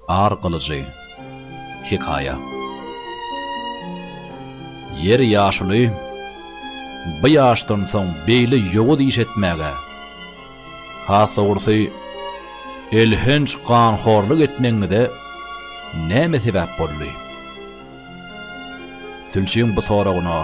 Ar gylyjy. Hekaýa. Ýer ýaşuly, bu ýaşdan soň beýle ýowuz iş etmäge, has dogrusy, elhenç ganhorlyk etmegiňize näme sebäp boldy? Sülçüň bu soragyna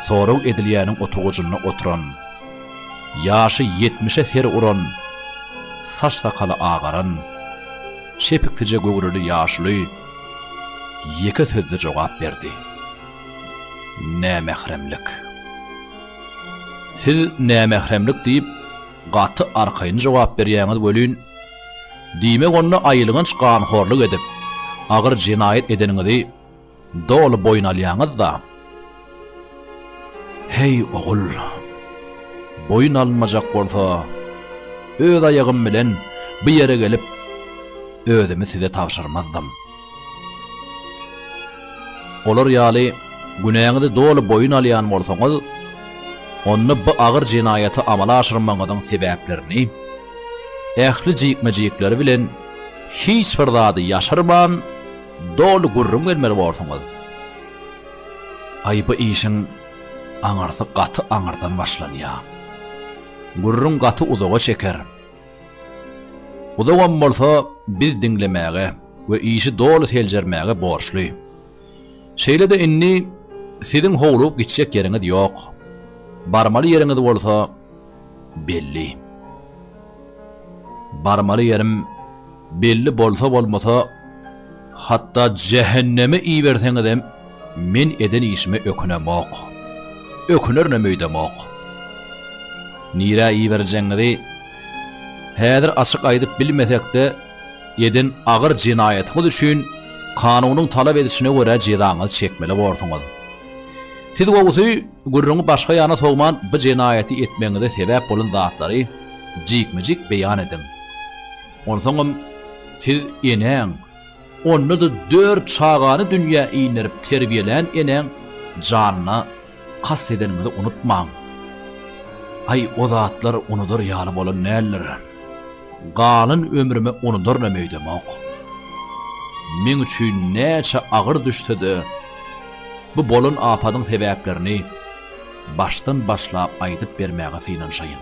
sorag edilýäniň oturgyjynda oturan, ýaşy ýetmişe ser uran, saç-sakaly agaran, çepiktije göwreli ýaşuly ýeke sözde jogap berdi, Nämähremlik. Siz nämähremlik diýip, gaty arkaýyn jogap berýäňiz welin, Diýmek onda aýylganç ganhorlyk edip, agyr jenaýat edeniňizi doly boýun alýaňyz-da? Heý, ogul! Boýun alynmajak bolsa, öz aýagym bilen bu ýere gelip, özümi size tabşyrmazdym. Olar ýaly günäňizi doly boýun alýan bolsaňyz, onda bu agyr jenaýaty amala aşyrmagyňyzyň sebäplerini, ähli jikme-jikleri bilen hiç bir zady ýaşyrman doly gürrüň bermeli borsuňyz. Aý, bu işiň aňyrsy gaty aňyrdan başlanýar. Gürrüň gaty uzaga çeker. Uzagam bolsa biz diňlemäge we işi doly seljermäge borçly. Şeýle-de indi siziň howlugyp gitjek ýeriňiz ýok. Barmaly ýeriňiz bolsa belli. Barmaly ýerim. Belli bolsa-bolmasa, hatda jähenneme iberseňizem, men eden işime ökünemok. Ökünerinem öýdemok. Nirä iberiljegiňizi häzir açyk aýdyp bilmesek-de, eden agyr jenaýatyňyz üçin kanunyň talap edişine görä jezaňyzy çekmeli borsuňyz. Siz gowusy, gürrüňi başga ýana sowman, bu jenaýaty etmegiňize sebäp bolan zatlary jikme-jik beýan ediň. Onsoňam siz enäň, onda-da dört çagany dünýä inderip terbiýelän enäň janyna kast edeniňizi unutmaň. Aý, o zatlar unudar ýaly bolan däldir. Galan ömrüme unudarynam öýdemok. Meň üçin näçe agyr düşse-de, bu bolan apadyň sebäplerini başdan başlap aýdyp bermäge synanyşaýyn.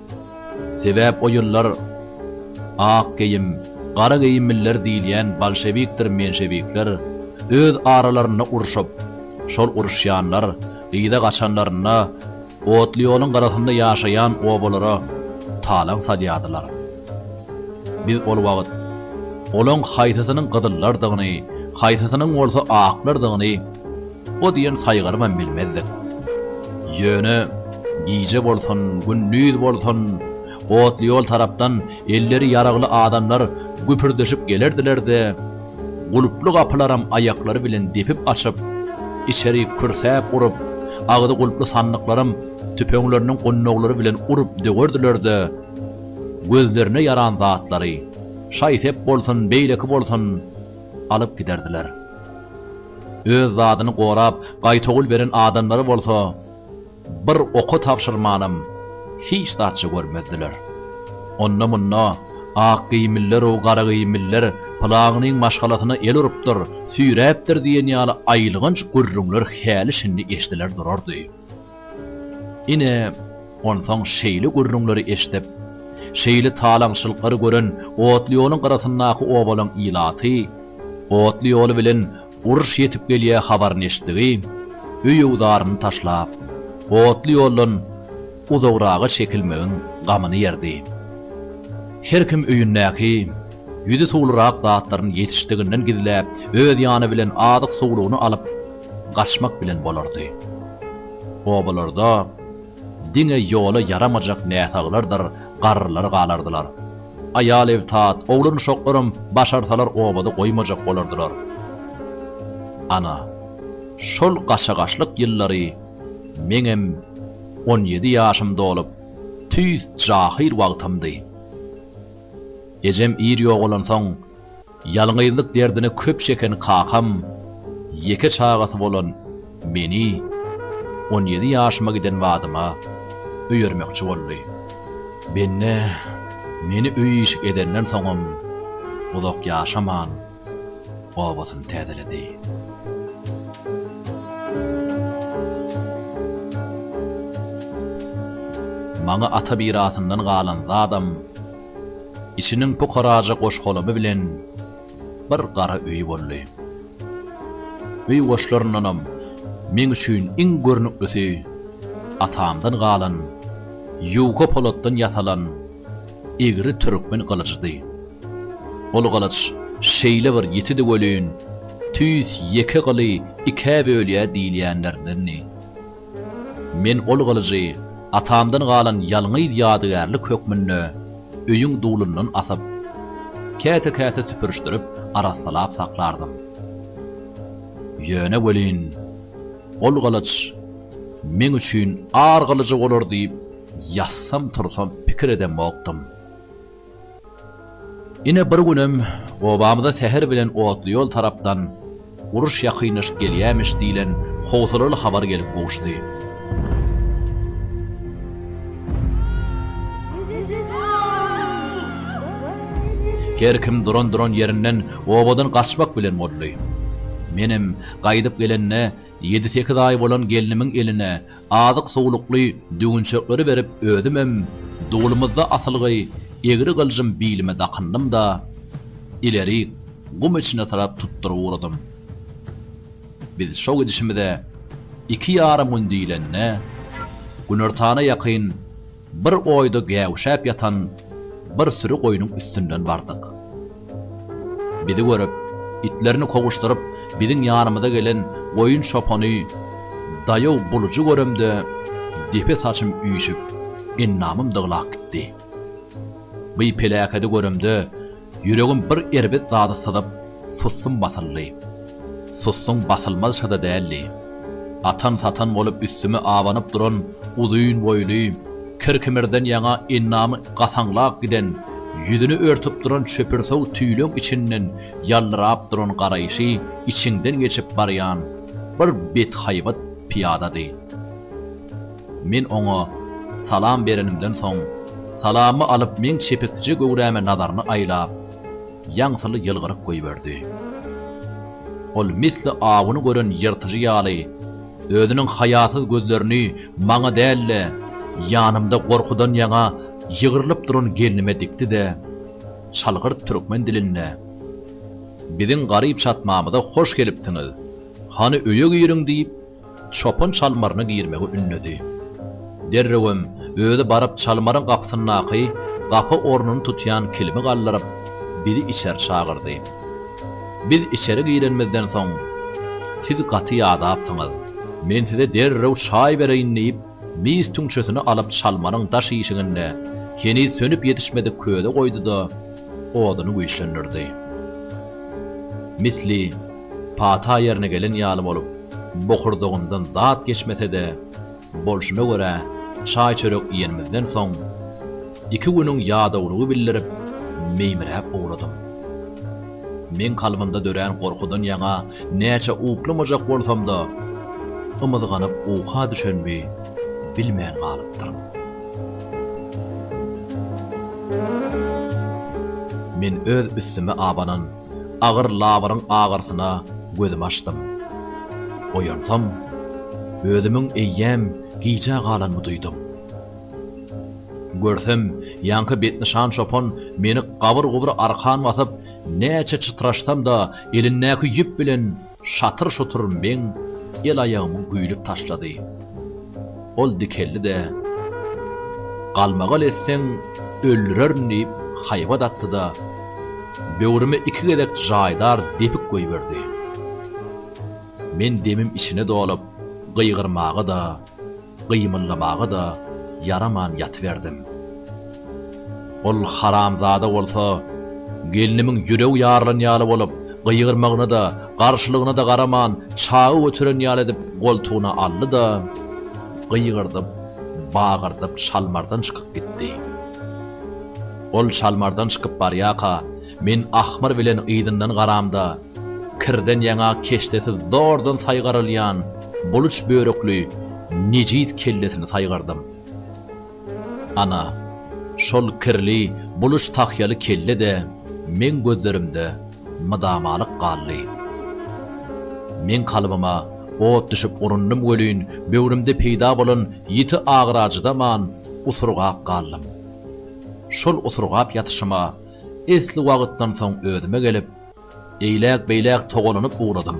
Sebäp o ýyllar ak geýim, gara geýimliler diýilýän bolşewikdir menşewikler öz aralarynda urşup, şol uruşýanlar yza gaçanlarynda otly ýoluň gyrasynda ýaşaýan obalara talaň salýardylar. Biz ol wagt olaň haýsysynyň gyzyllardygyny, haýsysynyň bolsa aklardygyny, O diýen saýgarymam bilmezdik. Ýöne, gije bolsun, gündiz bolsun, otly ýol tarapdan elleri ýaragly adamlar güpürdeşip gelerdiler-de, gulply gapylaram aýaklary bilen depip açyp, içeri kürsäp urup, agzy gulply sandyklaram tüpeňleriniň gundaglary bilen urup döwerdiler-de, gözlerine ýaran zatlary, şaý-sep bolsun, beýleki bolsun, alyp giderdiler. Öz zadyny gorap, gaýtawul beren adamlary bolsa bir oka tabşyrmanam hiç zatça görmezdiler. Onda-munda Akgeýimliler-ow Garageýimliler pylagynyň maşgalasyna el urupdyr, süýräpdir diýen ýaly aýylganç gürrüňler häli-şindi eşdiler durardy. Ine, onsoň şeýle gürrüňleri eşidip, şeýle talaňçylyklary gören otly ýoluň gyrasyndaky obalaň ilaty otly ýoly bilen uruş ýetip gelýä habaryny eşitdigi, öýüwzaryny taşlap, otly ýoldan uzagraga çekilmegiň gamyny ýerdi. Her kim öýündäki ýüzi suwlurak zatlaryny ýetişdiginden gizläp, öz ýany bilen azyk-suwlugyny alyp, gaçmak bilen bolardy. Obalarda diňe ýola ýaramajak näsaglardyr garrylar galardylar. Aýal-ebtat, oglan-uşaklaram başarsalar obada goýmajak bolardylar. Ana, şol gaçagaçlyk ýyllary meňem on ýedi ýaşym dolup, tüýs jahyl wagtymdy. Ejem ir ýogalansoň. Ýalňyzlyk derdini köp çeken kakam ýeke çagasy bolan meni on ýedi ýaşyma giden badyma öýermekçi boldy. Bende meni öý-işik edenden soňam uzak ýaşaman, obasyny täzeledi. Maňa ata mirasyndan galan zadam Içiniň pukaraja goş-golamy bilen bir gara öýi boldy. Öý goşlaryndanam meň üçin iň görnüklisi atamdan galan ýuka polatdan ýasalan egri türkmen gylyjydy. Ol gylyç şeýle bir ýitidi welin, tüýs ýeke gyly ikä bölýär diýilýänlerindendi. Men ol gylyjy atamdan galan ýalňyz ýadygärlik hökmünde öýüň dulundan asyp, käte-käte süpürişdirip arassalap saklardym. Ýöne welin, ol gylyç meň üçin ar gylyjy bolar diýip ýatsam-tursam pikir edemokdym. Ine bir günem obamyza säher bilen otly ýol tarapdan Uruş ýakynlaşyp gelýämiş diýlen howsalaly habar gelip gowuşdy. Her kim duran-duran ýerinden obadan gaçmak bilen boldy. Menem gaýdyp gelende ýedi-sekiz aý bolan gelnimiň eline azyk-suwlukly düwünçekleri berip özümem dulumyzda asylgy egri gyljym bilime dakyndym-da, ilerik gum içine tarap tutduryp ugradym. Biz şo gidişimize iki ýarym gün diýlende, günortana ýakyn, Bir oýda gäwüşäp ýatan bir süri goýnuň üstünden bardyk. Bizi görüp, itlerini kowuşdyryp, biziň ýanymyza gelen goýun çopany daýaw bulujy göremde, depe saçym üýşüp, endamym dyglap gitdi. By peläkedi göremde, Ýüregim bir erbet zady syzyp, sussum basyldy. Sussuň basylmazşa-da däldi. Atan-satan bolup üstüme abanyp duran uzyn boýly, kir-kimirden ýaňa endamy gasaňlap giden, ýüzüni örtüp duran çöpürsow tüýleň içinden ýallyrap duran garaýşy içiňden geçip barýan bir bethaýbat pyýadady. Men oňa salam berenimden soň, salamy alyp meň çepeksije göwräme nazaryny aýlap, ýaňsyly ýylgyryp goýberdi. Ol misli awuny gören ýyrtyjy ýaly, özüniň haýasyz gözlerini maňa däl-de, ýanymda gorkudan ýaňa ýygrylyp duran gelnime dikdi-de, çalgyrt türkmen dilinde, Biziň garyp çatmamyza hoş gelipsiňiz, hany öýe giriň diýip, Çopan çalmaryna girmegi ündedi. Derrewem özi baryp çalmaryň gapysyndaky gapa ornuny tutýan kilimi galdyryp, bizi içeri çagyrdy. Biz içeri girenimizden soň, Siz gaty ýadapsyňyz. Men size derrew çaý bereýin diýip, Mis tüňçesini alyp çalmanyň daş işiginde heniz sönüp ýetişmedik köze goýdy-da, oduny güýçlendirdi. Misli pata ýerine gelen ýaly bolup, bokurdagymdan zat geçmese-de, bolşuna görä, çaý-çörek iýenimizden soň, iki günüň ýadawlygy bildirip, meýmiräp ugradym. Meň kalbymda dörän gorkudan ýaňa näçe uklamajak bolsam-da, ymyzganyp uka düşenimi bilmän galypdyryn. Men öz üstüme abanan agyr labyryň agyrysyna gözümi açdym. Oýansam, özümiň eýýäm gijä galanymy duýdum. Görsem, ýaňky betnyşan çopan meni gabyr-gubur arkan basyp, näçe çytraşsam-da, elindäki ýüp bilen şatyr-şutur meň el-aýagymy güýlüp taşlady. Ol dikeldi-de, Galmagal etseň, öldürerin diýip, haýbat atdy-da, böwrüme iki gezek jaýdar depik goýberdi. Men demim içine dolup, gygyrmaga-da. gymyldamaga-da ýaraman ýatyberdim. Ol haramzada bolsa, gelnimiň ýüregi ýarylan ýaly bolup, gygyrmagyna-da, garşylygyna-da garaman, çagy göteren ýaly edip goltugyna aldy-da, gygyrdyp, bagyrdyp çalmardan çykyp gitdi. Ol çalmardan çykyp barýarka, Men ahmyr bilen yzyndan garamda, kirden ýaňa keşdesiz zordan saýgarylýan buluç börekli nejis kellesini saýgardym. Ana, şol kirli, buluç tahýaly kelle-de meň gözlerimde mydamalyk galdy. Meň kalbyma ot düşüp urundym welin, böwrümde peýda bolan ýiti agyra çydaman, usurgap galdym. Şol usurgap ýatyşyma Esli wagtdan soň özüme gelip, eýläk-beýläk togalanyp ugradym.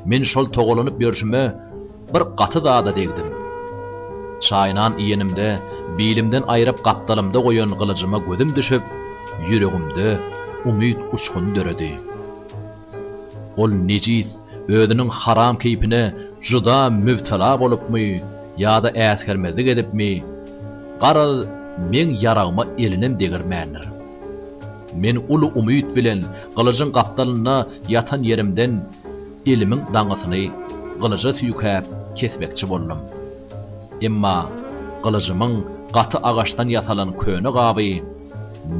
Men şol togalanyp ýörşüme bir gaty zada degdim. Çaýnan iýenimde, bilimden aýryp gapdalymda goýan gylyjyma gözüm düşüp, ýüregimde umyt uçguny döredi. Ol nejis özüniň haram keýpine juda mübtela bolupmy ýa-da äsgermezlik edipmi, garaz, meň ýaragyma elinem degirmändir. Men uly umyt bilen gylyjyň gapdalynda ýatan ýerimden elimiň daňysyny gylyja süýkäp kesmekçi boldum. Emma gylyjymyň gaty agaçdan ýasalan köne gaby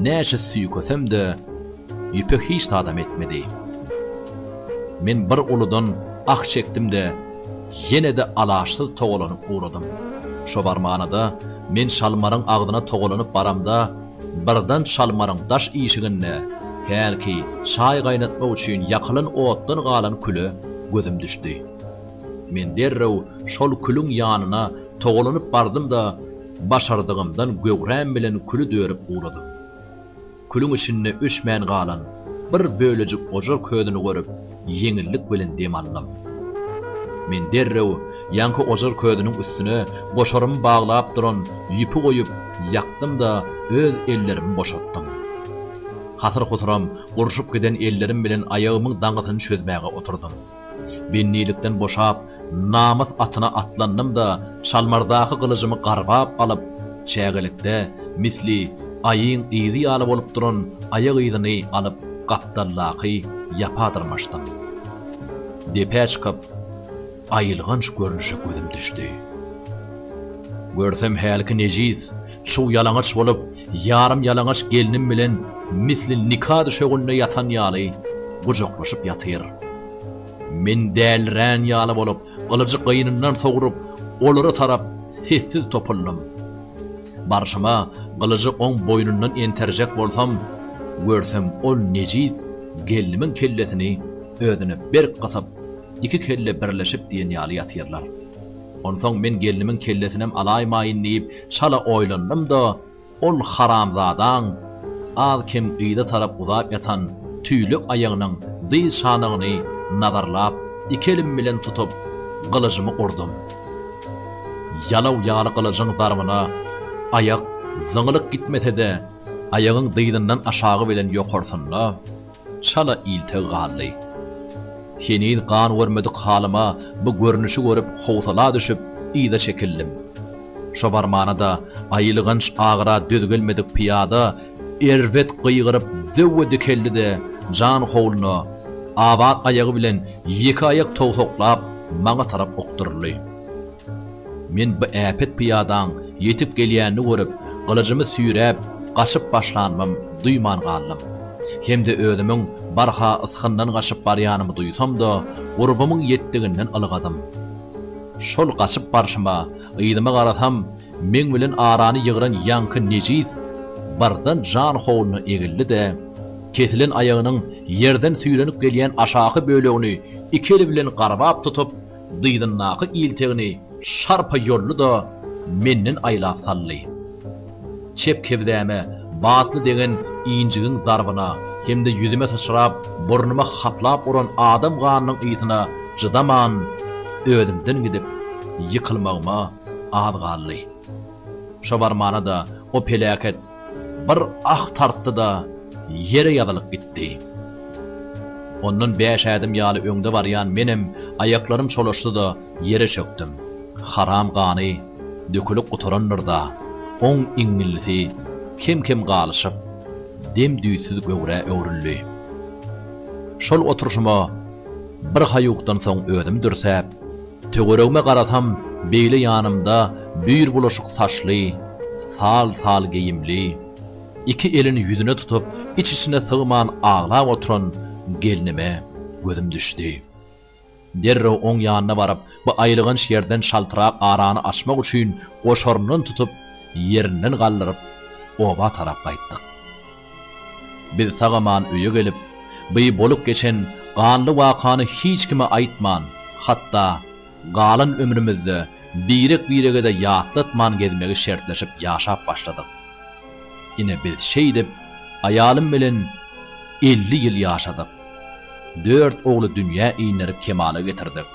Näçe süýkesem-de, ýüpe hiç zadam etmedi. Men bir uludan ah çekdim-de, ýene-de alaçsyz togalanyp ugradym. Şo barmana-da, men şalmaryň agzyna togalanyp baramda, birden şalmaryň daş işiginde hälki çaý gaýnatmak üçin ýakylan otdan galan küle gözüm düşdi. Men derrew şol külüň ýanyna togalanyp bardym-da, Başardygymdan göwräm bilen küli dörüp uladym. Külüň içinde öçmän galan bir bölejik ojar közüni görüp, ýeňillik bilen dem aldym. Men derrew ýaňky ojar közüniň üstüne goşarymy baglap duran ýüpi goýup, ýakdym-da, öz ellerimi boşatdym. Hasyr-husuram gurşup giden ellerim bilen aýagymyň daňysyny çözmäge oturdym. Bendilikden boşap, namys atyna atlandym-da, çalmardaky gylyjymy garbap alyp, çägelikde, misli, aýyň yzy ýaly bolup duran aýak yzyny alyp, gapdaldaky ýapa dyrmaşdym. Depä çykyp, aýylganç görnüşe gözüm düşdi. Görsem hälki nejis, çuw-ýalaňaç bolup, Ýarym ýalaňaç gelnim bilen misli nika düşeginde ýatan ýaly gujaklaşyp ýatyr. Men dälirän ýaly bolup, gylyjy gynyndan sogrup, olara tarap sessiz topuldym. Barşyma gylyjy oň boýnundan enterjek bolsam, görsem ol nejis gelnimiň kellesini özüne berk gysyp, iki kelle birleşip diýen ýaly ýatyrlar. Onsoň men gelnimiň kellesinem alaýmaýyn diýip, Çala oýlandym-da, ol haramzadaň az-kem yza tarap uzap ýatan tüýlek aýagynyň dyz şanagyny nazarlap, iki elim bilen tutup, gylyjymy urdum. Ýalaw ýaly gylyjyň zarbyna aýak zyňylyk gitmese-de, aýagyň dyzyndan aşagy bilen ýokarsynda, Çala ilteg galdy. Heniz gan görmedik halyma bu görnüşi görüp howsala düşüp, yza çekildim. Şo barmana-da aýylganç agyra döz gelmedik pyýada erbet gygyryp zöwwe dikeldi-de, jan howluna, abat aýagy bilen ýeke aýak towsaklap, maňa tarap okduryldy. Men bu äpet pyýadaň ýetip gelýänini görüp, gylyjymy süýräp, gaçyp başlanymam duýman galdym. Hem-de özümiň barha ysgyndan gaçyp barýanymy duýsam-da, gurbumyň ýetdiginden ylgadym. Şol gaçyp barşyma, yzyma garasam, meň bilen arany ýygran ýaňky nejis birden jan howluna egildi-de, kesilen aýagynyň ýerden süýrenip gelýän aşaky bölegini iki eli bilen garbap tutup, dyzyndaky iltegini şarpa ýoldy-da, menden aýlap saldy. Çep kebzäme batly degen injigiň zarbyna hem-de ýüzüme syçrap, burnuma haplap uran adam ganynyň ysyna çydaman, özümden gidip, ýykylmagyma az galdy. Şo barmana-da o peläket Bir ah tartdy-da, ýere ýazylyp gitdi. Ondan bäş ädim ýaly öňde barýan menem aýaklarym çolaşdy-da, ýere çökdüm. Haram gany dökülip gutarandyr-da, oň iňňillisi kem-kem galyşyp, dem-düýtsüz göwrä öwrüldi. Şol oturyşyma birhaýukdan soň özüm dürsäp. Töweregime garasam, beýle ýanymda düýr bulaşyk saçly, sal-sal geýimli, iki elini ýüzüne tutup, iç-içine sygman aglap oturan gelnime gözüm düşdi. Derrew oň ýanyna baryp, bu aýylganç ýerden çaltrak arany açmak üçin goşaryndan tutup, ýerinden galdyryp, oba tarap gaýtdyk. Biz sag-aman öýe gelip, bi bolup geçen ganly wakany hiç kime aýtman, hatda galan ömrümizde birek-birege-de ýatlatman gezmegi şertleşip ýaşap başladyk. Ine biz şeýdip aýalym bilen elli ýyl ýaşadyk. Dört ogly dünýä inderip kemala getirdik.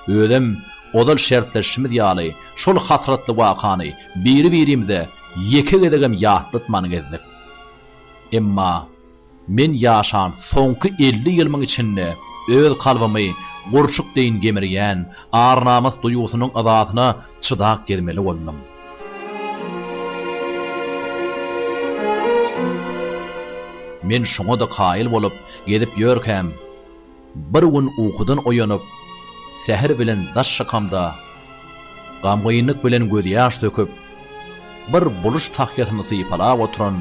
Özem ozal şertleşişimiz ýaly şol hasratly wakany Biri-birimize ýeke gezegem ýatlatman gezdik. Emma men ýaşan soňky elli ýylymyň içinde öz kalbymy gurçuk deýin gemirýän ar-namys duýgusynyň yzasyna çydap gezmeli boldum. Men şoňa-da kaýyl bolup gezip ýörkäm, Bir gün ukudan oýanyp, säher bilen daş şakamda gamgynlyk bilen gözýaş döküp, bir buluş tahýasyny sypalap oturan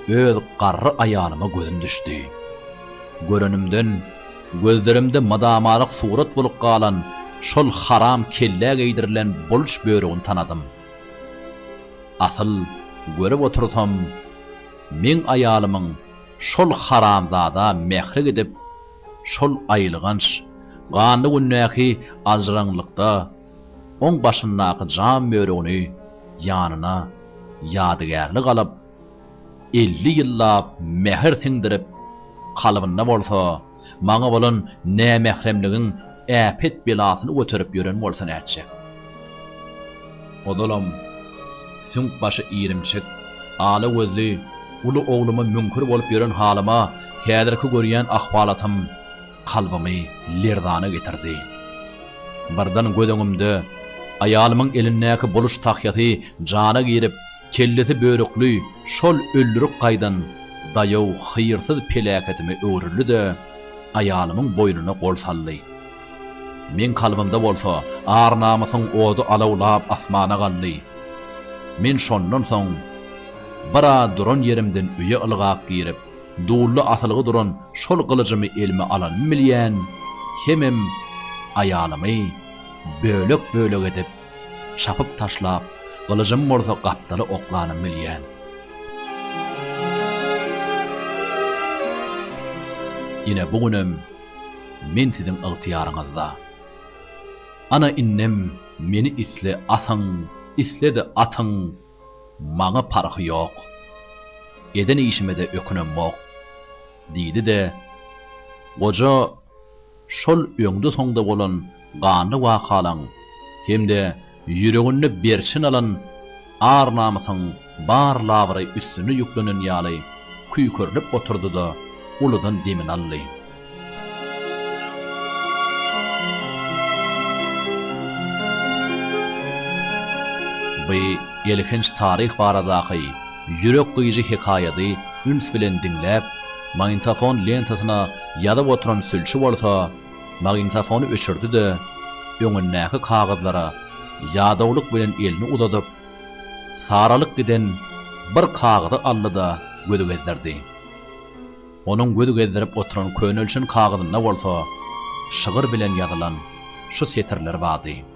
öz garry aýalyma gözüm düşdi. Görenimden, gözlerimde mydamalyk surat bolup galan şol haram kellä geýdirilen buluş börügini tanadym. Asyl, görüp otursam, meň aýalymyň Şol haramzada mähri gidip, şol aýylganç, ganly gündäki aljyraňlykda oň başyndaky jam bölegini ýanyna ýadygärlik alyp, elli ýyllap mähir siňdirip, kalbynda bolsa, Maňa bolan nämähremligiň äpet-belasyny göterip ýören bolsa nätjek? Ozalam, süňk başy irimçik, ala gözli uly ogluma müňkür bolup ýören halyma häzirki görýän ahwalatym kalbymy lerzana getirdi. Birden göz öňümde aýalymyň elindäki buluş tahýasy jana girip, Kellesi börükli şol öldürip gaýdan daýaw hyýrsyz peläketime öwrüldi-de, aýalymyň boýnuna gol saldy. Meň kalbymda bolsa ar-namysyň ody alawlap asmana galdy. Men şondan soň bir az duran ýerimden öýe ylgap girip, dully asylgy duran şol gylyjymy elime alanym bilýän, hemem aýalymy bölek-bölek edip, Çapyp taşlap, gylyjym bolsa gapdaly oklanyp bilýän. Ine bu günem men siziň ygtyýaryňyzda. Ana indem meni isle asyň, isle-de atyň, maňa parhy ýok. Eden işime-de ökünemok, diýdi-de, goja Şol öňde-soňda bolan ganly wakalaň hem-de ýüreginde berçin alan ar-namysyň bar labyry üstüne ýüklenen ýaly küýkürilip oturdy-da, uludan demini aldy. Bu elhenç taryh baradaky ýürek gyýyjy hekaýady üns bilen diňläp, Magnitofon lentasyna ýazyp oturan sülçi bolsa, magnitofony öçürdi-de, öňündäki kagyzlara ýadawlyk bilen elini uzadyp, saralyp giden bir kagyzy aldy-da, göz gezdirdi. Onuň göz gezdirip oturan könelşen kagyzynda bolsa şygyr bilen ýazylan şu setirler bardy.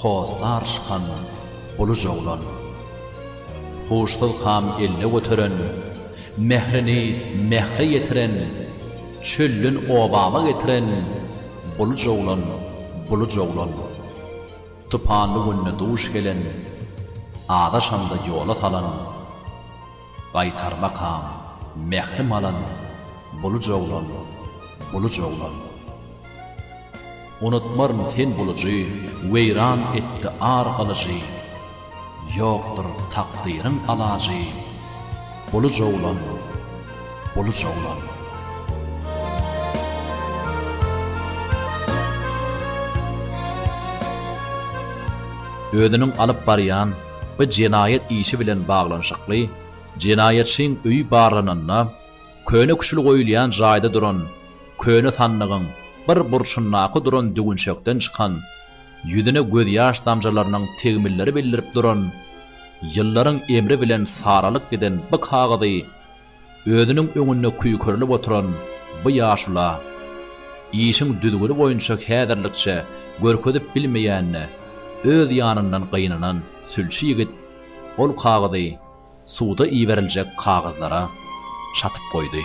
Hossar şykan, uluja oglan. Huşsuz kam eline göteren, Mährini mähre ýetiren, Çölden obama getiren, Buluja oglan, buluja oglan. Tupanly günde duş gelen, Azaşanda ýola salan. Gaýtarmakaň, mährim alan, buluj oglan, buluj oglan. Unutmaryn sen bulujy, weýran etdi ar gylyjy, ýokdur takdyryň alajy, buluj oglan, buluj oglan. Özüniň alyp barýan. Bi jenaýat işi bilen baglanyşykly jenaýatçyň öýi barlananda, köne küşül goýulýan jaýda duran köne sandygyň bir burçundaky duran düwünçekden çykan, ýüzüne gözýaş damjalarynyň tegmilleri bildirip duran, ýyllaryň emri bilen saralyp giden bi kagyzy Özüniň öňünde küýkerilip oturan bu ýaşula işiň düzgüni boýunça häzirlikçe görkezip bilmeýänine öz ýanyndan gynanan sülçi ýigit ol kagyzy suda iberiljek kagyzlara çatyp goýdy.